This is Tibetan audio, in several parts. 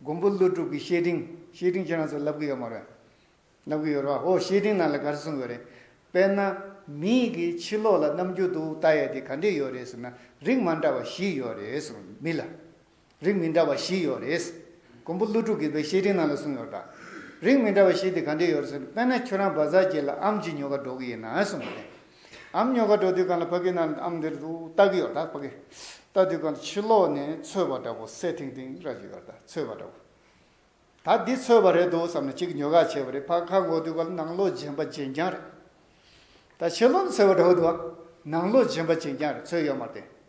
མགོན་པོ་ཀླུ་སྒྲུབ་ཀྱི་བཤེས་སྤྲིང་བཤེས་སྤྲིང་ཁྱེད་རང་ཚོ་ལབ་གི་ཡོད་མ་རེད། ལབ་གི་ཡོད་རེད་བ་ཧོ་བཤེས་སྤྲིང་ནང་ལ་ག་རེ་གསུང་གི་རེད། དཔེར་ན། མིའི་གི་ཕྱི་ལོག་ལ་རྣམ་འགྱུར་འདུག་ལྟ་ཡས་དེ་ག་འདྲས་ཡོད་རེད་ཟེར་ན་རིགས་མ་འདྲ་བ་བཞི་ཡོད་རེད་གསུང་གི་མི་ལ། རིགས་མི་འདྲ་བ་བཞི་ཡོད་རེད། མགོན་པོ་ཀླུ་སྒྲུབ་ཀྱི་བའི་བཤེས་སྤྲིང་ནང་ལ་གསུང་ཡོད་རེད་བ། རིགས་མི་འདྲ་བ་བཞི་དེ་ག་འདྲས་ཡོད་རེད་ཟེར་ན་དཔེར་ན་ཁྱོད་རང་བ་ཟ་རྒྱས་ལ་ཨམ་གྱི་ཉོ་ག་འགྲོ་གི་ཡིན་ན་གསུང་གི་རེད། ཨམ་ཉོ་ག་འགྲོ་དུས་གང་ལ་ཕ་གི་ནང་ཨམ་འདིར་འདུག་ལྟ་གི་ཡོད་ད་ཕ་གི་ལྟ་དུས་གང་ལ་ཕྱི་ལོག་ནས་ཚོས་པ་འདྲ་པོ་སེ་ཐིང་ཐིང་ར་གི་ཡོད་ད་ཚོས་པ་འདྲ་པོ་ད་འདི་ཚོས་པ་རེད་འདུག་བསམ་ནས་ཅིག་ཉོ་ག་བྱས་པ་རེད་ཕ་ཁ་འགོག་དུས་གང་ལ་ནང་ལོག་རྗེན་པ་རྗེན་རྐྱང་རེད་ད་ཕྱི་ལོག་ནས་ཚོས་པ་འདྲ་པོ་འདུག་ཨ། ནང་ལོག་རྗེན་པ་རྗེན་རྐྱང་རེད་ཚོས་ཡོད་མ་རེད།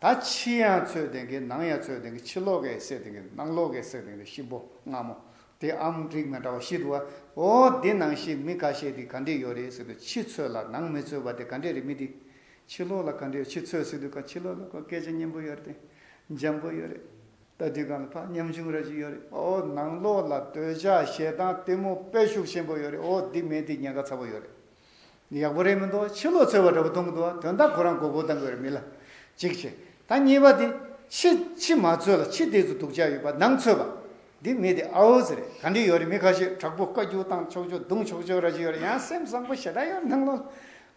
ད་ཕྱི་ཡང་ཚོད་ལྡན་གི་ནང་ཡང་ཚོད་ལྡན་གི་ཕྱི་ལོག་གེ་སེ་ལྡན་གི་ནང་ལོག་གེ་སེ་ལྡན་གི་གཤིན་པོ་སྔ་མོ་དེ་ཨམ་རིགས་མི་འདྲ་བ་བཞི་འདུག་བ་འོ་འདི་ནང་བཞིན་མི་ཁ་ཤས་དེ་ག་འདྲེ་ཡོད་རེད་ཟེར་དུས་ཕྱི་ཚོད་ལ་ནང་མི་ཚོད་བ་དེ་ག་འདྲེ་རེད་མི་དེ་ཕྱི་ལོག་ལ་ག་འདྲེ་ཡོད་ཕྱི་ཚོད་ཟེར་དུས་ག་ཕྱི་ལོག་ལ་ག་སྐད་ཆ་སྙན་པོ་ཡོད་རེད་འཇམ་པོ་ཡོད་རེད་ད་དུས་ག་ལ་ཕ་ཉམ་ཆུང་ར་ཅིག་ཡོད་རེད་འོ་ནང་ལོག་ལ་འདོད་ཆགས་ཞེ་སྡང་གཏི་མུག་དཔེ་ཤུགས་ཆེན་པོ་ཡོད་རེད་འོ་འདི་མེད་དེ་ཉེན་ཁ་ཚ་པོ་ཡོད་རེད་ཡག་པོ་རེད་མི་འདུག་ཕྱི་ལོག་ཚོལ་བ་འདྲ་པོ་གཏོང་གི་འདུག་དོན་དག་ཁོ་རང་མགོ་སྐོར་བཏང་གི་རེད་མི་ལ་གཅིག་བྱས་ད་གཉིས་པ་དེ་ཕྱི་ཕྱི་མ་ཚོལ་ལ་ཕྱི་དེ་ཚོ་སྡུག་ཅག་ཡོད་པ་ནང་ཚོལ་བ་འདི་མི་དེ་ཨའོ་ཟེར་རེད་ག་འདྲི་ཡོད་རེད་མི་ཁ་ཤས་དྲག་པོ་བཀའ་རྒྱུགས་བཏང་ཆོག་ཆོག་རྡུང་ཆོག་ཆོག་ར་ཅི་ཡོད་རེད་ཡང་སེམས་བཟང་པོ་ཞེ་དྲག་ཡོད་སྣང་ལོ་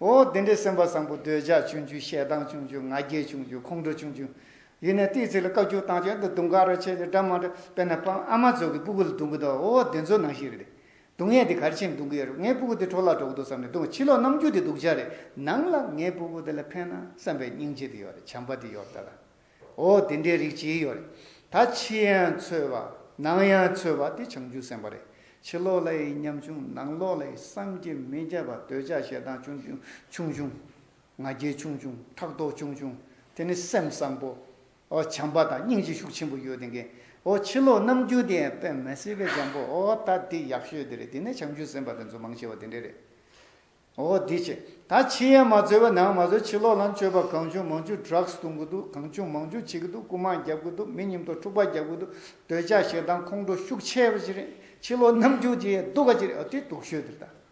ཨོ་དེ་འདྲའི་སེམས་པ་བཟང་པོ་འདོད་ཆགས་ཆུང་ཆུང་ཞེ་སྡང་ཆུང་ཆུང་ང་རྒྱལ་ཆུང་ཆུང་ཁོང་ཁྲོ་ཆུང་ཆུང་ཡིན་ནའི་དེའི་ཚིག་ལ་བཀའ་རྒྱུགས་བཏང་ཆོག་འདི་རྡུང་ག་ར་བྱས་ནས་འདྲ་མ་འདྲ་དཔེར་ན་པང་ཨ་མ་ཚོ་གི་སྤུ་གུ་ལ་རྡུང་གི་འདུག་ཨོ་དེ་ཚོ་ནང་ཞིག་རེད་སྡུག་བསྔལ་དེ་གར་ཕྱིན་འདུག་གི་རེད་ངའི་སྤུ་གུ་དེ་གྲོགས་ལ་གྲོགས་འདུག་བསམ་ནས་འདུག་ཕྱི་ལོག་ནམ་རྒྱུན་དེ་སྡུག་ཅག་རེད་སྣང་ལ་ངའི་སྤུ་གུ་དེ་ལ་ཕན་ན་བསམ་པའི་སྙིང་རྗེ་དེ་ཡོད་རེད་བྱམས་པ་དེ་ཡོད་ད་ལ་འོ་དེ་འདྲའི་རིགས་གཅིག་ཡོད་རེད་ད་ཕྱི་ཡང་འཚོལ་བ་ནང་ཡང་འཚོལ་བ་དེ་བྱང་ཆུབ་སེམས་དཔའ་རེད་ཕྱི་ལོག་ལ་ཡི་ཉམ་ཆུང་ནང་ལོག་ལ་ཡི་བསམ་གྱིས་མི་ཁྱབ་པ་འདོད་ཆགས་ཞེ་སྡང་ཆུང་ཆུང་ཆུང་ཆུང་ང་རྒྱལ་ཆུང་ཆུང་ཕྲག་དོག་ཆུང་ཆུང་དེ་ནི་སེམས་བཟང་པོ་བྱམས་པ་དང་སྙིང་རྗེ་ཤུགས་ཆེན་པོ་ཡོད་དེ་འགན། ཕྱི་ལོག་རྣམ་འགྱུར་དེ་ཡང་པད་མ་སེར་པོའི་འཇམ་པོ་ད་འདི་ཡག་ཤོས་དེ་རེད་དེ་ནས་བྱང་ཆུ་སེམས་པ་དེ་ཚོ་མང་ཆེ་བ་དེ་འདྲ་རེད། འདི་བྱས་ད་ཕྱི་ཡན་མ་རྩོད་པ་ནང་མ་རྩོད་ཕྱི་ལོག་ལམ་སྤྱོད་པ་གང་བྱུང་མང་བྱུང Drugs བཏུང་གི་འདུག་གང་བྱུང་མང་བྱུང་བྱེད་ཀྱི་འདུག་རྐུ་མ་རྒྱབ་ཀྱི་འདུག་མི་ཉིམ་ཐོག་འཁྲུག་པ་རྒྱབ་ཀྱི་འདུག་འདོད་ཆགས་ཞེ་སྡང་ཁོང་ཁྲོ་ཤུགས་ཆེ་བ་ཅི་རེད་ཕྱི་ལོག་རྣམ་འགྱུར་དེ་ཡང་སྡུག་ག་ཅི་རེད་འོ་དེ་སྡུག་ཤོས་དེ་རེད་ད།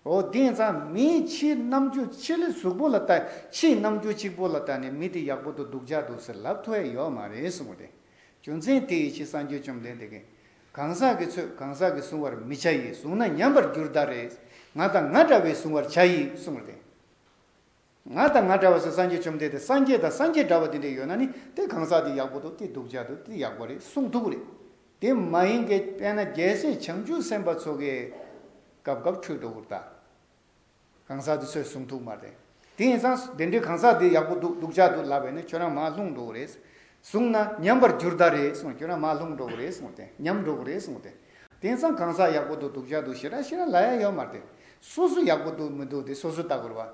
ཨོ་དེང་སང་མིའི་ཕྱིའི་རྣམ་འགྱུར་ཕྱི་ལི་གཟུགས་པོ་ལ་ལྟ་ཕྱིའི་རྣམ་འགྱུར་གཅིག་པོ་ལ་ལྟ་ནས་མི་དེ་ཡག་པོ་དུ་སྡུག་ཅག་འདུག་ཟེར་ལབ་ཐོའི་ཡོད་མ་རེད་གསུངས་པ་དེ་རྒྱུ་མཚན་དེ་ཡི་ཕྱི་སངས་རྒྱུས་བཅོམ་ལྡན་འདས་ཀྱིས་གང་ཟག་གི་ཚོས་གང་ཟག་གི་གཟུང་བར་མི་བྱ་ཡིས་བཟུང་ན་ཉམས་པར་འགྱུར་ད་རེས་ང་དང་ང་འདྲ་བའི་གཟུང་བར་བྱ་ཡིས་གསུངས་པ་དེ། ང་དང་ང་འདྲ་བ་སོགས་སངས་རྒྱས་བཅོམ་ལྡན་འདས་སངས་རྒྱས་དང་སངས་རྒྱས་འདྲ་བ་དེ་འདྲས་ཡོད་ན་ནི་དེ་གང་ཟག་དེ་ཡག་པོ་འདུག་དེ་སྡུག་ཅག་འདུག་དེ་ཡག་པོ་རེད་གསུངས་ཐུབ་རེད། དེ་མ་ཡིན་གྱི་དཔེར་ན་རྒྱལ་སྲས་བྱང་ཆུབ་སེམས་དཔའ་ཚོ་གས། སྐབས་སྐབས་འཕྲོད་དོ་བུར་ད། གང་ཟག་དེ་ཚོས་གསུངས་ཐུབ་མ་རེད། དེ་ཡིན་ཙང་དེ་འདྲས་གང་ཟག་དེ་ཡག་པོ་འདུག་སྡུག་ཅག་འདུག་ལབ་པས་ནི་ཁྱོད་རང་མ་ལྷུང་འགྲོ་རེད། བཟུང་ན་ཉམས་པར་འགྱུར་ད་རེད་གསུངས་གྱུར་ན་མ་ལྷུང་འགྲོ་གི་རེད་གསུངས་ཏེ་ཉམས་འགྲོ་གི་རེད་གསུངས་ཏེ། དེང་སང་གང་ཟག་ཡག་པོ་འདུག་སྡུག་ཅག་འདུག་ཞེ་དྲག་ཤེས་ན་ལ་ཡ་ཡོད་མ་རེད། སོ་སོ་ཡག་པོ་འདུག་མི་འདུག་དེ་སོ་སོའི་ལྟ་གོ་རེད་བ།